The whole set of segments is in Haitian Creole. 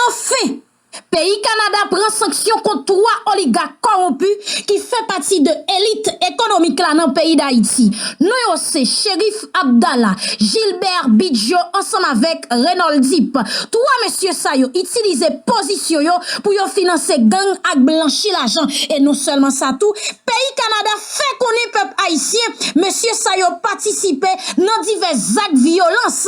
Anfen! Peyi Kanada pran sanksyon kont 3 oligak kowonpi ki fè pati de elit ekonomik la nan peyi Dayiti. Non yo se Cherif Abdala, Gilbert Bigio ansanm avèk Renold Deep. 3 mesye sa yo itilize pozisyon yo pou yo finanse gang ak blanchi lajan. E non sèlman sa tou, peyi Kanada. fè konnen pèp ayisyen mesye sa yo patisipe nan divès zak vyolans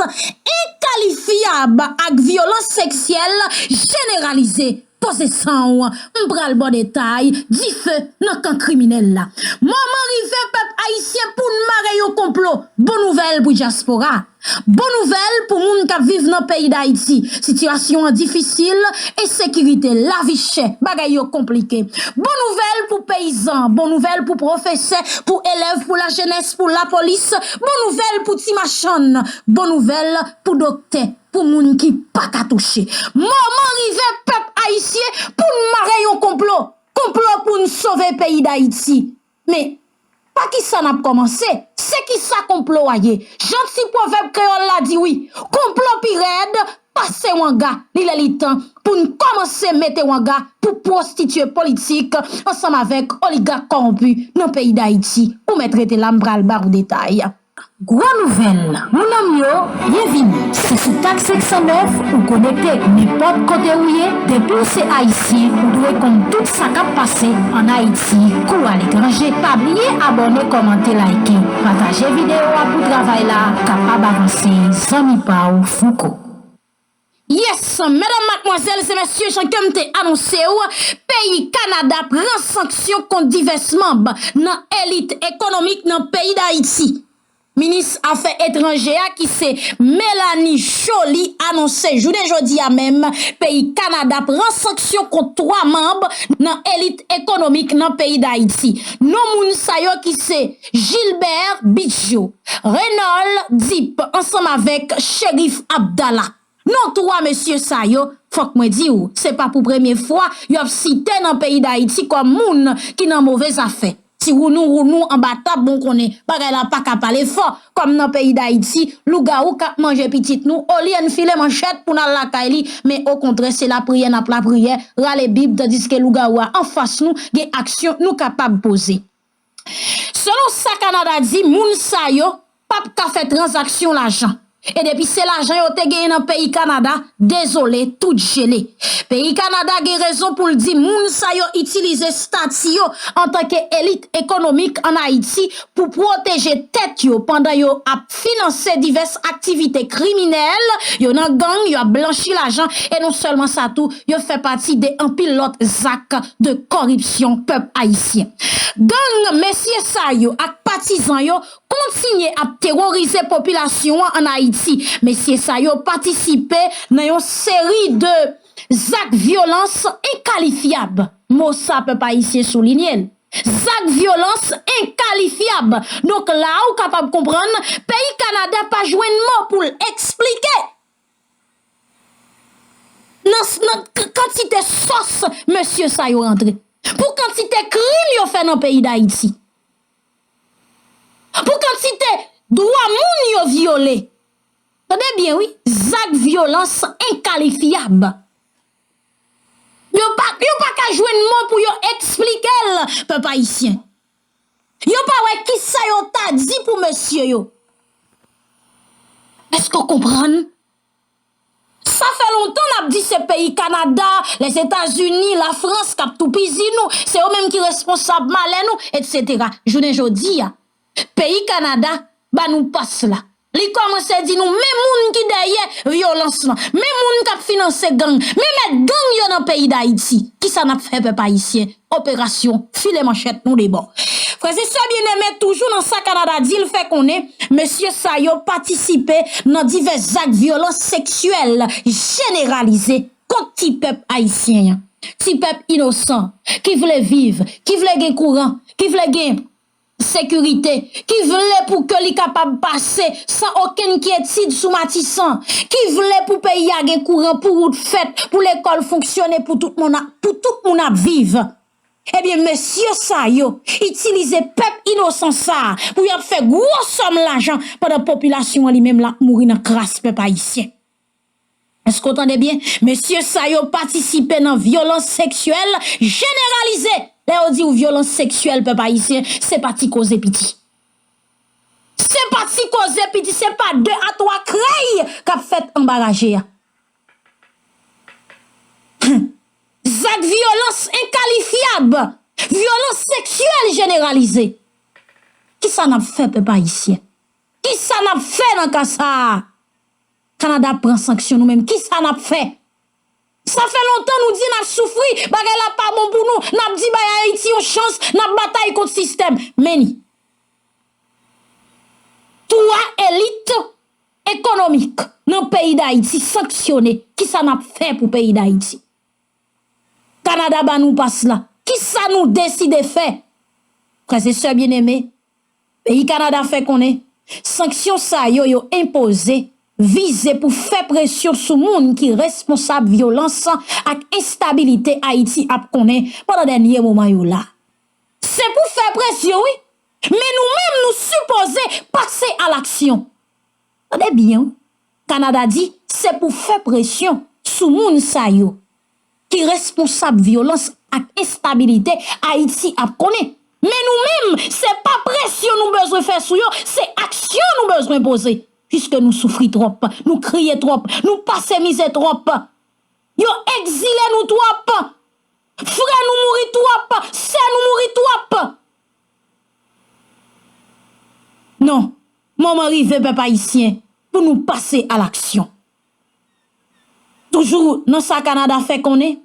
enkalifyab ak vyolans seksyèl jeneralize. Poze san w, m pral ba w detay, dife nan kan kriminèl la. Moman rive pèp ayisyen pou n mare yon konplo, bon nouvèl pou dyaspora. Bon nouvèl pou moun kap viv nan peyi Dayiti, sitiyasyon an difisil, ensekirite, lavi chè, bagay yo konplike. Bon nouvèl pou peyizan, bon nouvèl pou pwofesè, pou elèv, pou lajenès, pou lapolis, bon nouvèl pou ti machann, bon nouvèl pou doktè, pou moun ki pa ka touche. Moman rive pèp ayisyen pou n mare yon konplo, konplo pou n sove peyi Dayiti. Men, pa ki sa n ap kòmanse? Se ki sa konplo a ye? Jan ti pwovèb kreyòl la di wi, konplo pi rèd pase wanga. Li lè li tan pou n kòmanse mete wanga pou pwostitye politik ansanm avèk oligak kòwonpi nan peyi Dayiti. Ou mèt rete la, m pral ba ou detay. Gwo nouvèl, mounanm yo, byenvini! Se sou Tag 509 ou konekte nenpòt kote ou ye, depi w se Ayisyen ou dwe konn tout sa k ap pase an Ayiti kou aletranje. Pa bliye abòne kòmante layke, pataje videyo a pou travay la kapab avanse zanmi pa w Fouco. Yes, medam matmwazèl se mesye jan kem te anonse ou, peyi Kanada pran sanksyon kont divès manb nan elit ekonomik nan peyi Dayiti. Minis afè etranje a ki se Melanie Joly anonse jounen jodi a menm peyi Kanada pran sanksyon kont 3 manb nan elit ekonomik nan peyi Dayiti. Non moun sa yo ki se Gilbert Bigio. Renald Deep ansanm avèk Cherif Abdala. Non 3 mesye sa yo, fòk mwen di w, se pa pou premye fwa yo ap site nan peyi Dayiti kòm moun ki nan move zafè. Ti wounou wounou anba tab bon konnen bagay la pa ka pale fò kòm nan peyi Dayiti lougawou k ap manje pitit nou olye n file manchèt pou n al lakay li men okontrè se lapriyè n ap lapriyè, rale bib tandiske lougawou a anfas nou gen aksyon nou kapab poze. Selon sa Kanada di, moun sa yo pa p ka fè tranzaksyon lajan. E depi se lajan yo te genyen nan peyi Kanada, dezole, tout jele. Peyi Kanada gen rezon pou l di moun sa yo itilize stati yo antanke elit ekonomik an Ayiti pou pwoteje tèt yo pandan yo ap. finanse divès aktivite kriminèl yo nan gang, yo ap blanchi lajan e non sèlman sa tou, yo fè pati de anpil lòt zak de kòripsyon pèp ayisyen. Gang mesye sa yo ak patizan yo kontinye ap teworize popilasyon an ann Ayiti. Mesye sa yo patisipe nan yon seri de zak vyolans enkalifyab, mo sa pèp ayisyen soulinye l. Zak vyolans enkalifiab. Donk la a ou kapab konprann peyi Kanada pa jwenn mo pou l eksplike nan kantite sòs mesye sa yo rantre. Pou kantite krim yo fè nan peyi Dayiti. Pou kantite dwa moun yo vyole. Tande byen wi, zak vyolans enkalifiab. Yo pa yo pa ka jwenn mo pou yo eksplikel pèp ayisyen. Yo pa wè kisa yo ta di pou mesye yo. Eske w konprann? Sa fè lontan n ap di se peyi Kanada, Lèzetazini, Lafrans k ap toupizi nou, se yo menm ki responsab malè nou, etsetera. Jounen jodi a, Peyi Kanada ba nou pas la. Li kòmanse di nou men moun ki dèyè vyolans lan, men moun k ap finanse gang, men mèt gang yo nan peyi Dayiti. Ki sa n ap fè pèp ayisyen? Operasyon file manchèt nou debò. Frè e sè byeneme, toujou nan sa Kanada di, l fè konnen mesye sa yo patisipe nan divès zak vyolans seksyèl jeneralize kont ti pèp ayisyen an. Ti pèp inosan, ki vle viv, ki vle gen kouran, ki vle gen. sekirite, ki vle pou ke li kapab pase san okenn kyetid sou Matisan, ki vle pou peyi a gen kouran, pou wout fèt, pou lekòl fonksyone, pou tout moun ap viv. Ebyen mesye sa yo itilize pèp inosan sa pou y ap fè gwo sòm lajan pandan popilasyon an li menm l ap mouri nan kras pèp ayisyen. Èske w tande byen? Mesye sa yo patisipe nan vyolans seksyèl jeneralize! Lè yo di w vyolans seksyèl, pèp ayisyen, se pa ti koze piti. Se pa ti koze piti, se pa de a twa krèy k ap fèt anba raje a. Hum! Zak vyolans enkalifyab, vyolans seksyèl jeneralize! Kisa n ap fè, pèp ayisyen? Kisa n ap fè nan ka sa a? Canada ap pran sanksyon nou menm kisa nap fè? Sa fè lontan nou di nap soufri, bagay la pa bon pou nou, nap di bay Ayiti yon chans, nap batay kont sistèm. Men li. 3 elit ekonomik nan peyi Dayiti sanksyone, kisa nap fè pou peyi Dayiti? Canada ba nou pas la, kisa nou deside fè? Frèzesè byeneme. Peyi Kanada fè konnen sanksyon sa yo yo enpoze vize pou fè presyon sou moun ki responsab vyolans ak enstabilite Ayiti ap konnen pandan dènye moman yo la. Se pou fè presyon wi, men nou menm nou sipoze pase a laksyon. Tande byen wi, Kanada di se pou fè presyon sou moun sa yo. ki responsab vyolans ak enstabilite Ayiti ap konnen. Men nou menm, se pa presyon nou bezwen fè sou yo, se aksyon nou bezwen poze. Piske nou soufri twòp, nou kriye twòp, nou pase mize twòp, yo ekzile nou twòp, frè nou mouri twòp, sè nou mouri twòp. Non, moman rive pèp Ayisyen pou nou pase alaksyon. Toujou nan sa Kanada fè konnen,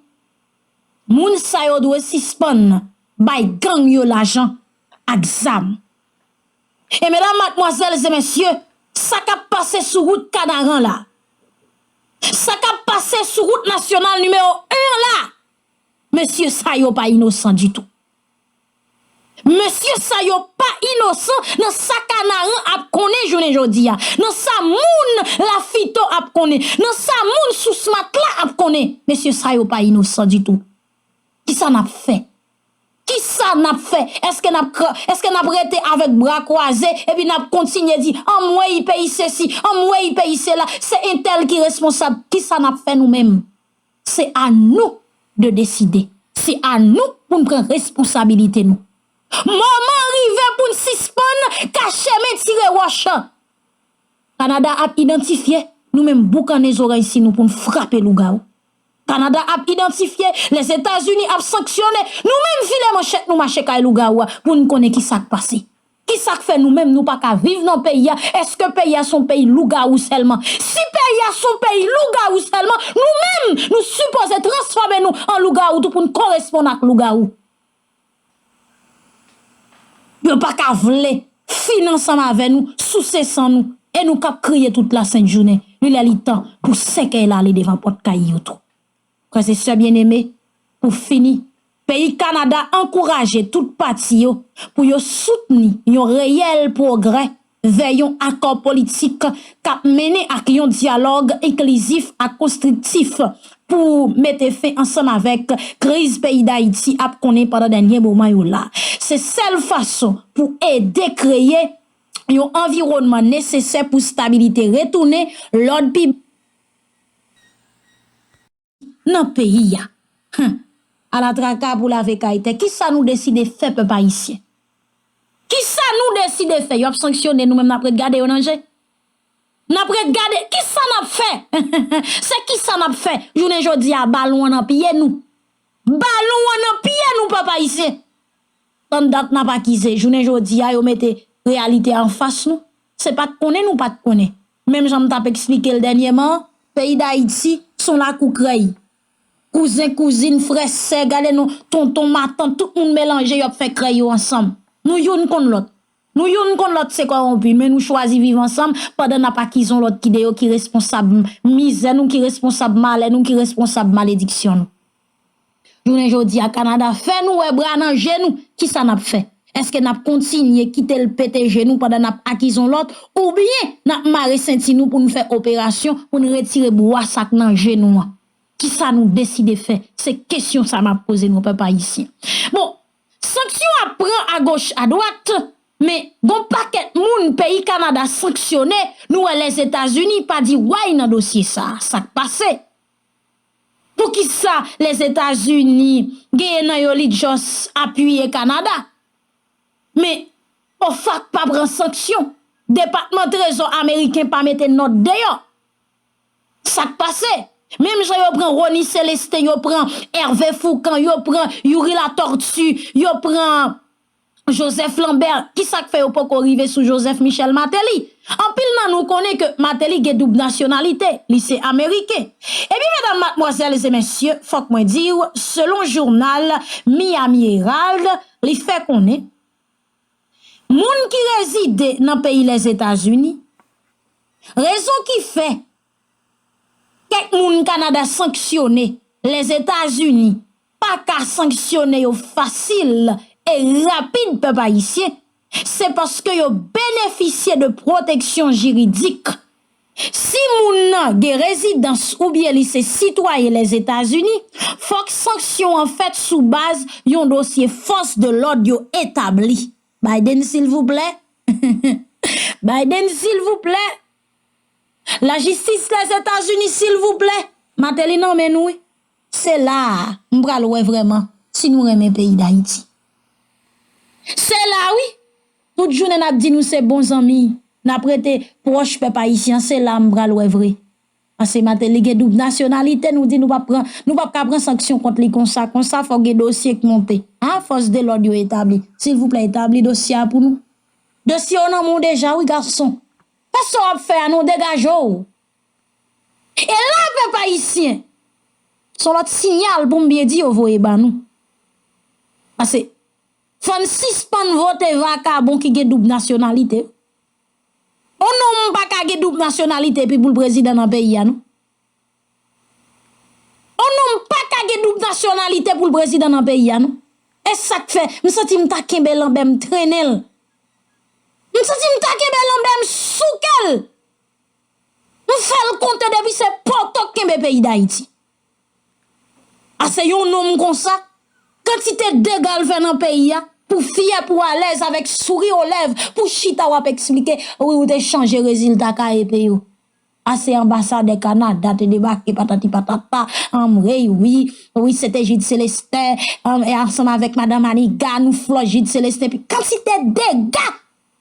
moun sa yo dwe sispann bay gang yo lajan ak zam. E medam, matmwazèl e mesye, sa kap pase sou wout Kanaran la, sa kap pase sou wout nasyonal nimewo 1 an la, mesye sa yo pa inosan ditou. Mesye sa yo pa inosan nan sa kanaran ap konnen jounen jodi a. Nan sa moun lafito ap konnen. Nan sa moun sous matla ap konnen. Mesye sa yo pa inosan ditou. Kisa n ap fè? Kisa n ap fè? Eske n ap kra, eske n ap rete avèk bra kwaze epi n ap kontinye di anmweyy peyi sesi, anmweyy peyi sela, se entèl ki responsab. Kisa n ap fè nou menm? Se a nou de deside. Se a nou pou n pran responsabilite nou. Moman an rive pou n sispann kache men tire wòch. Kanada ap idantifye nou menm boukannen zorèysi nou pou n frape lougawou. Kanada ap idantifye, Lèzetazini ap sanksyone nou menm file manchèt nou mache kay lougawou a pou n konnen ki sa k pase. Kisak fè nou menm nou paka viv nan peyi a eske peyi a son peyi lougawou sèlman si peyi a son peyi lougawou sèlman nou menm nou sipoze transfòme nou an lougawou tou poun koresponn ak lougawou yo paka vle fin ansanm avè nou souse san nou e nou kap kriye tout la sent jounen li lè li tan pou sèkèy la ale devan pòt kay yo tou. Frè se sè byeneme, pou fini, peyi Kanada ankouraje tout pati yo pou yo soutni yon reyèl pwogrè vè yon akò politik k ap mennen ak yon dyalòg enklizif ak konstriktif pou mete fen ansanm avèk kriz peyi Dayiti ap konnen pandan dènye moman yo la. Se sèl fason pou ede kreye yon anviwònman nesesè pou stabilite retounen, lòd pi. nan peyi a Hum ala traka pou lave kay tè kisa nou deside fè pèp ayisyen kisa nou deside fè yo ap sanksyone nou menm nap ret gade yo nan je nap ret gade kisa nap fè se kisa nap fè jounen jodi a balon an nan pye nou balon an nan pye nou pèp ayisyen. Tann dat nap akize, jounen jodi a yo mete reyalite a anfas nou, se pat konnen nou pat konnen. Menm jan m tap eksplike l dènyeman an, peyi Dayiti s on lakou krèy. Kouzen, kouzin, frè, sè, gade non, tonton, matant, tout moun melanje yo ap fè krèy yo ansanm. Nou youn konn lòt. Nou youn konn lòt se kòwonpi men nou chwazi viv ansanm pandan nap akize yon lòt ki deyò ki responsab mizè nou, ki responsab malè nou, ki responsab malediksyon nou. Jounen jodi a Kanada fè nou wè bra nan je nou, ki sa n ap fè? Eske n ap kontinye kite l pete je nou pandan n ap akiz yon lòt oubyen n ap mare senti nou pou n fè operasyon pou n retire bwa sa k nan je nou an? Ki sa nou deside fè? Se kesyon sa m ap poze nou pèp ayisyen. Bon, sanksyon ap pran agoch adwat, men gon pakèt moun peyi Kanada sanksyone, nou wè Lèzetazini pa di way nan dosye sa a. Sa k pase? Poukisa Lèzetazini genyen nan yo li just apiye Kanada? Men OFAC pa pran sanksyon, Depatman Trezò Ameriken pa mete nòt deyò. Sak pase? Menm jan yo pran Rony Celestin, yo pran Hervé Fourcand, yo pran Youri Latortue, yo pran Joseph Lambert, ki sa k fè yo poko rive sou Joseph Michel Martelly? Anpil nan nou konnen ke Martelly gen doub nasyonalite, li se Ameriken. Epi medam, matmwazèl e mesye, fòk mwen di w, selon jounal Miami Herald, li fè konnen, moun ki rezide nan peyi Lèzetazini, rezon ki fè Kèk moun Kanada sanksyone, Lèzetazini pa ka sanksyone yo fasil e rapid pèp ayisyen, se paske yo benefisye de pwoteksyon jiridik. Si moun nan gen rezidans oubyen li se sitwayen Lèzetazini, fòk sanksyon an fèt sou baz yon dosye fòs de lòd yo etabli. Biden silvouplè? Biden silvouplè? La jistis les etats unis silvouplè mateli nan men nou wi se la a m pral wè vrèman si nou renmen peyi dayiti se la wi tout jounen nap di nou se bon zanmi nap rete pwòch pèp ayisyen se la m pral wè vre pase mateli gen doub nasyonalite nou di nou pap pran nou pap ka pran sanksyon kont li konsa konsa fòk gen dosye k monte a fòs de lòd yo etabli silvouplè etabli dosye a pou nou. Dosye yo nan men w deja wi gason. Pa sa w ap fè a non degaje w. E la pèp ayisyen se yon lòt siyal pou m byen di yo voye ban nou. Pase fò n sispann vote vakabon ki gen doub nasyonalite. Yon nonm pa ka gen doub nasyonalite epi pou l prezidan nan peyi a non. On nonm paka gen doub nasyonalite pou l prezidan nan peyi a non. E sa k fè, m santi m ta kenbe lanbe m trennen l. M santi m ta kenbe lanbe m souke l. M fè l konte depi se poto k kenbe peyi Dayiti. Ase yon nonm konsa, kantite dega l fè nan peyi a, pou fyè, pou alèz, avèk souri o lèv, pou chita w ap esplike, wi ou te chanje rezilta KEP yo. A se anbasadè Canada te debake patati patata anmreyy wi wi se te Jude Celestin anmeyy ansanm avèk madan Maniga nou flòt Jude Celestin pi kantite dega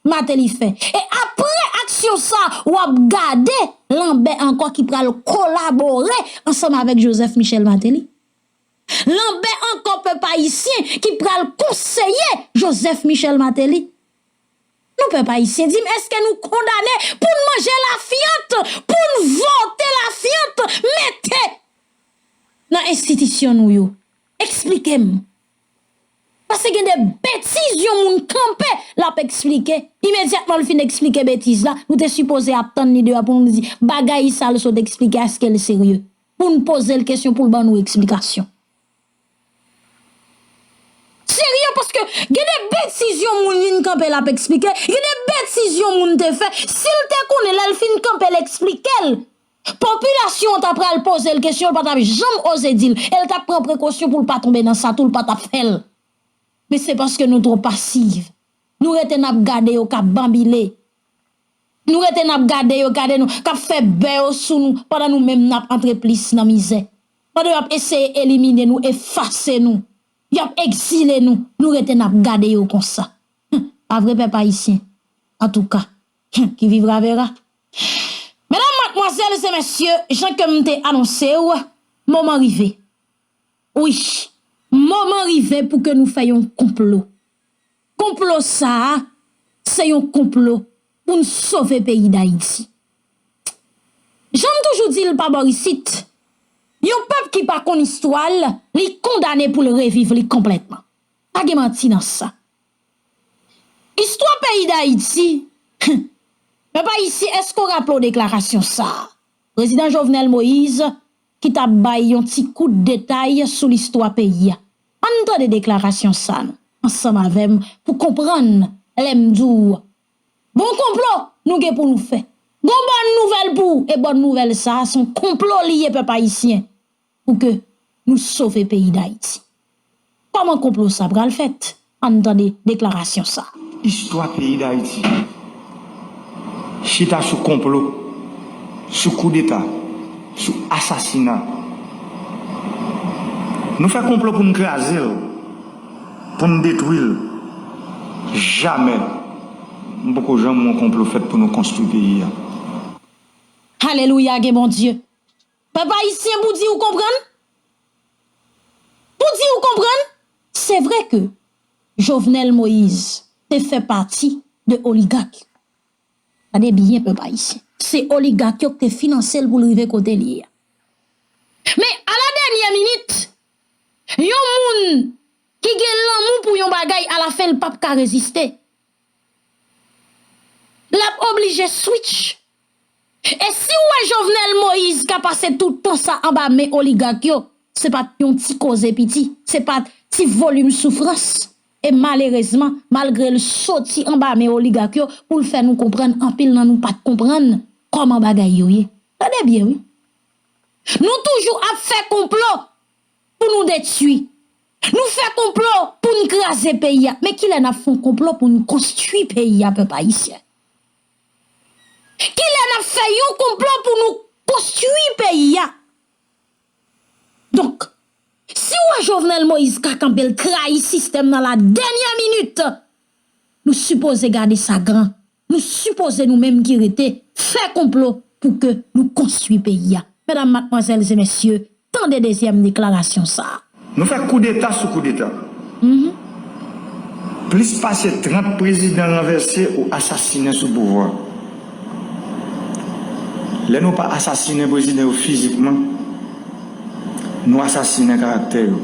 Martelly fè e aprè aksyon sa wap gade lanbè ankò ki pral kolabore ansanm avèk Joseph Michel Martelly lanbè ankò pèp ayisyen ki pral konseye Joseph Michel Martelly. Nou pèp ayisyen dim eske nou kondane poun manje lafyant poun vote lafyant mete nan enstitisyon nou yo esplikem pase gen de betiz yon moun kanpe lap esplike imedyatman fin esplike betiz la nou te sipoze ap tann li dewa poun di bagay sal sot esplike eskel serye poun pozel kesyon poul ban nou esplikasyon. Serye paske gen de betiz yon moun vin kanpe lap esplike, gen de betiz yon moun te fè, sil te konnen lèl fin kanpe l esplike l, popilasyon an ta pral poze l kesyon l pa tap janm oze di l, el tap pran prekosyon poul pa tonbe nan sa tou l pa tap fè l. Men se paske nou two pasiv, nou rete nap gade yo kap banbile, nou rete nap gade yo gade nou kap fè bè yo sou nou pandan nou menm nap antre plis nan mizè. Pandan yo ap eseye elimine nou, efase nou, yo ap ekzile nou, nou rete n ap gade yo konsa. Hum! Pa vre pèp Ayisyen? Antouka! Hum! Qui vivra verra. Medam, matmwazèl e mesye, jan ke m te anonse ou, moman rive. Wi, moman rive pou ke nou fè yon konplo. Konplo sa a se yon konplo pou n sove peyi Dayiti. Jan m toujou di l pa bò isit, yon pèp ki pa konn istwa l, li kondane pou l reviv li konplètman. Pa gen manti nan sa. Istwa peyi Dayiti, hum! Pèp ayisyen èske w raple w deklarasyon sa a Prezidan Jovenel Moïse ki t ap bay yon ti kout detay sou listwa peyi a? An n tande deklarasyon sa nou ansanm avè m pou konprann lè m di w bon konplo nou gen pou nou fè. Gon bòn nouvèl pou w e bòn nouvèl sa a s on konplo li ye pèp ayisyen pou ke nou sove peyi Dayiti. Kòman konplo sa pral fèt? An n tande deklarasyon sa. Istwa peyi Dayiti. Chita sou konplo, sou koudeta, sou asasina. Nou fè konplo pou n kraze l, pou n detwi l. Jamè m poko janm wè yon konplo fèt pou nou konstwi peyi a. Hallelujah gen Bondye. Pèp ayisyen pou di ou konprann? Pou di ou konprann? Se vre ke Jovenel Moise te fè pati de oligak yo. Gade byen pèp ayisyen. Se oligak yo ki te finanse l pou l rive kote li ye a. Men a la dènyè minit, yon moun ki gen lanmou pou yon bagay a la fen l pap ka reziste. Lap oblije switch. E siw wè Jovenel Moïse ka pase tout tan sa anba men oligak yo, se pat yon ti koze piti, se pat ti volim soufrans. E malerezman, malgre l soti anba men oligak yo pou l fè nou konprann anpil nan nou pat konprann kòman bagay yo ye. Tande byen wi. Nou toujou ap fè konplo. Pou nou detui. Nou fè konplo pou n kraze peyi a. Men kilè nap fon konplo pou n konstui peyi a pèp ayisyen. Kilè nap fè yon konplo pou nou konstui peyi a. Donk, si w wè Jovenel Moïse ka kanpe l trayi sistèm nan la denyè minit, nou sipoze gade sa gran. Nou sipoze nou menm ki rete fè konplo pou ke nou konstwi peyi a. Medam, matmwazèl e mesye, tande dezyèm deklarasyon sa a. Nou fè koudeta sou koudeta. Plis pase 30 prezidan ranvèse ou asasinen sou pouvwa. Lè nou pa asasinen prezidan yo fizikman, nou asasinen karaktè yo.